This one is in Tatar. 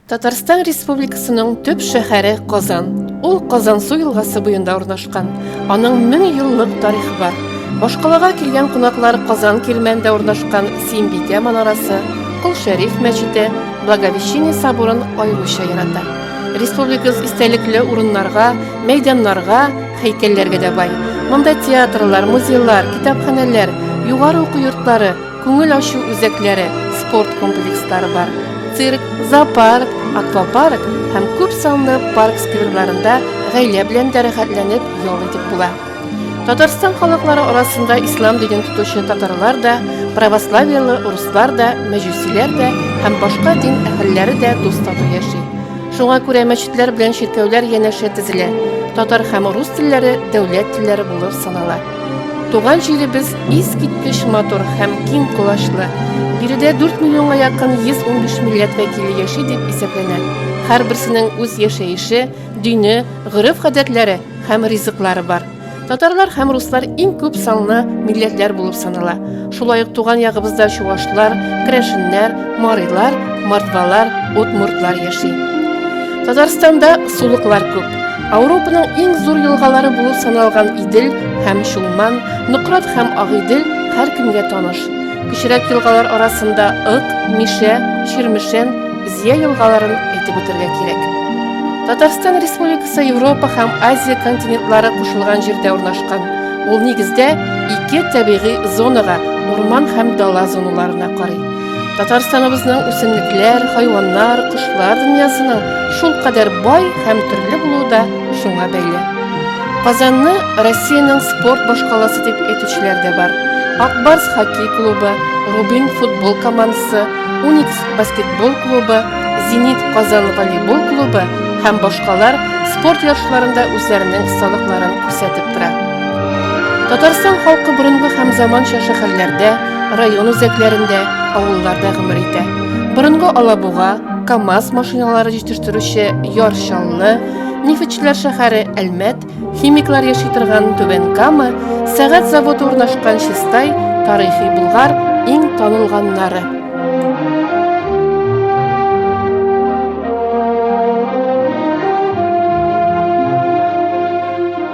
Татарстан Республикасының төп шәһәре Казан. Ул Казансу елгасы буенда урнашкан. Кан. Аның мең еллык тарихы бар. Башкалага килгән кунаклар Казан Кирмәндә урнашкан Симбикә манарасы, Кол Шәриф мәчете, Благовещение соборын аеруча ярата. Республикабыз истәлекле урыннарга, мәйданнарга, һәйкәлләргә дә бай. Монда театрлар, музейлар, китапханәләр, югары уку йортлары, Күңел ачу үзәкләре, спорт комплекслары бар. Цирк, зоопарк, аквапарк һәм күп санлы парк скверларында гаилә белән дә рәхәтләнеп ял итеп була. Татарстан халыклары арасында ислам динен тотучы татарлар да, православияле урыслар да, мәҗүсиләр дә һәм башка дин әһелләре дә дус-тату яши. Шуңа күрә мәчетләр белән чиркәүләр янәшә тезелә. Татар һәм рус телләре дәүләт телләре булып санала. Туган җиребез искиткеч матур һәм киң колачлы. Биредә 4 миллионга якын 115 милләт вәкиле яши дип исәпләнә. Һәрберсенең үз яшәеше, дине, гореф-гадәтләре һәм ризыклары бар. Татарлар һәм руслар иң күп санлы милләтләр булып санала. Шулай ук туган ягыбызда чувашлар, крәшеннәр, марилар, мордвалар, удмуртлар яши. Татарстанда сулыклар күп. Ауропаның иң зур елгалары булып саналган Идел һәм Чулман, Нократ һәм Агидел һәр кемгә таныш. Кечерәк елгалар арасында Ык, Мишә, Чирмешән, Зия елгаларын әйтеп үтәргә кирәк. Татарстан Республикасы Европа һәм Азия континентлары кушылган җирдә урнашкан. Ул нигездә ике табигый зонага, урман һәм дала зоналарына карый. Татарстаныбызның үсемлекләр, хайваннар, кошлар дөньясының шул кадәр бай һәм төрле булуы да шуңа бәйле. Казанны Россиянең спорт башкаласы дип әйтүчеләр дә бар. Акбарс хоккей клубы, Рубин футбол командасы, Уникс баскетбол клубы, Зенит Казан волейбол клубы һәм башкалар спорт ярышларында үзләренең осталыкларын күрсәтеп тора. Татарстан халкы борынгы һәм заманча шәһәрләрдә, Район үзәкләрендә, авылларда гомер итә. Борынгы Алабуга, КАМАЗ машиналары җитештерүче Яр Чаллы, нефтьчеләр шәһәре Әлмәт, химиклар яши торган Түбән Кама, сәгать заводы урнашкан Чистай, тарихи Булгар иң танылганнары.